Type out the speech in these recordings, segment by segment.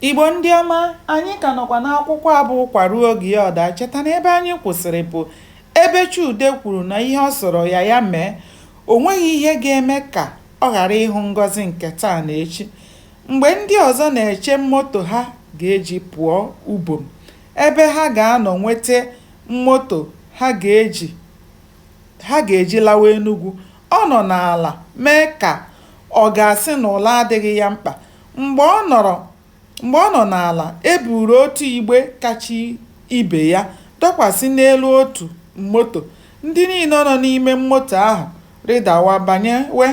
Igbo ndị ọma, anyị ka nọkwa n'akwụkwọ a bụ Ụkwa Ruo Oge Ya Ọ Daa. Cheta na ebe anyị kwụsịrị bụ ebe Chude kwuru na ihe ọ sọrọ ya ya mee, o nweghị ihe ga-eme ka ọ ghara ịhụ Ngozi nke taa na echi. Mgbe ndị ọzọ na-eche moto ha ga-eji pụọ ubom, ebe ha ga-anọ nweta moto ha ga-eji ha ga-eji lawa Enugwu, ọ nọ n'ala mee ka ọ ga-asị na ụla adịghị ya mkpa. Mgbe ọ nọrọ mgbe ọ nọ n'ala, e buru otu igbe kacha ibe ya dọkwasị n'elu otu moto. Ndị niile nọ n'ime moto ahụ rịdawa banyewe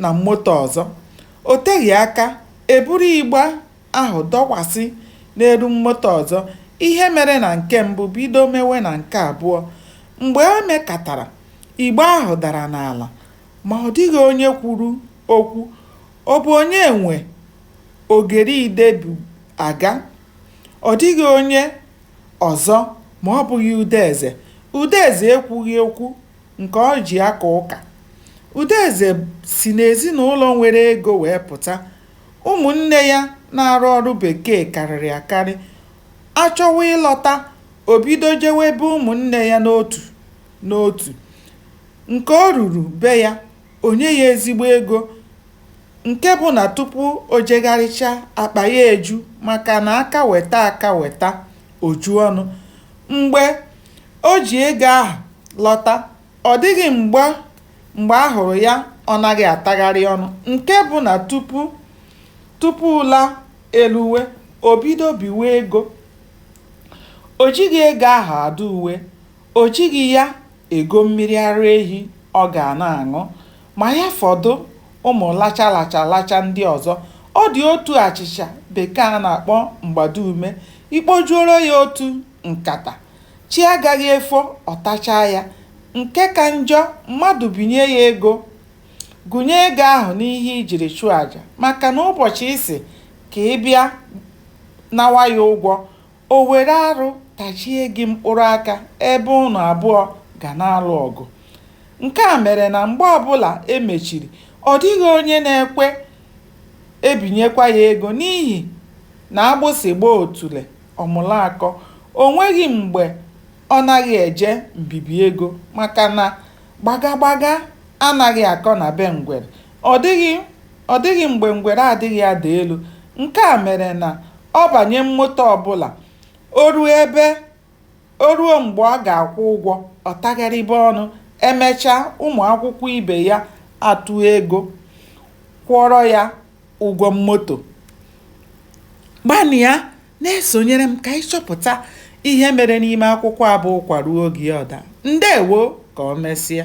na moto ọzọ. O teghị aka, e buru igbe ahụ dọkwasị n'elu moto ọzọ. Ihe mere na nke mbụ bido mewe na nke abụọ. Mgbe e mekatara, igbe ahụ dara n'ala, ma ọ dịghị onye kwuru okwu. Ọ bụ onye nwe ogeri ide bu aga? Ọ dịghị onye ọzọ ma ọ bụghị Udeze. Udeze ekwughị okwu nke o ji aka ụka. Udeze si n'ezinaụlọ nwere ego wee pụta. Ụmụnne ya na-arụ ọrụ bekee karịrị akarị. A chọwa ịlọta, o bido jewe be ụmụnne ya n'otu n'otu. Nke o ruru be ya, o nye ya ezigbo ego nke bụ na tupu o jegharịcha akpa ya eju maka na aka weta aka weta o ju ọnụ mgbe o ji ego ahụ lọta ọ dịghị mgbe mgbe a hụrụ ya ọ naghị atagharị ọnụ nke bụ na tupu tupu ụla eluwe o bido biwe ego o jighị ego ahụ adụ uwe O jighị ya ego mmiri ara ehi ọ ga na-aṅụ. Ma ya fọdụ ụmụ lacha lacha lacha ndị ọzọ. Ọ dị otu achịcha Bekee a na-akpọ mgbado ume, i kpojuoro ya otu nkata, chi agaghị efo ọ tachaa ya. Nke ka njọ, mmadụ binye ya ego, gụnye ego ahụ n'ihe i jiri chụọ aja maka na ụbọchị ị sị ka ị bịa nawa ya ụgwọ, O were arụ tachie gị mkpụrụ aka ebe unu abụọ ga na-alụ ọgụ. Nke a mere na mgbe ọbụla e mechiri, ọ dịghị onye na-ekwe ebinyekwa ya ego n'ihi na agbụsị gbaa otule, ọ mụrụ akọ. O nweghị mgbe ọ naghị eje mbibi ego maka na gbagagbaga anaghị akọ na be ngwere. Ọ dịghị mgbe ngwere adịghị ada elu. Nke a mere na ọ banye moto ọbụla, o ruo ebe o ruo mgbe ọ ga-akwụ ụgwọ, ọ tagharịba ọnụ, e mechaa ụmụakwụkwọ ibe ya atụọ ego kwụọrọ ya ụgwọ moto. Gbalịa na-esonyere m ka anyị chọpụta ihe mere n'ime akwụkwọ a bụ Ụkwa Ruo Oge Ya Ọ Daa. Ndeewo! Ka o mesịa.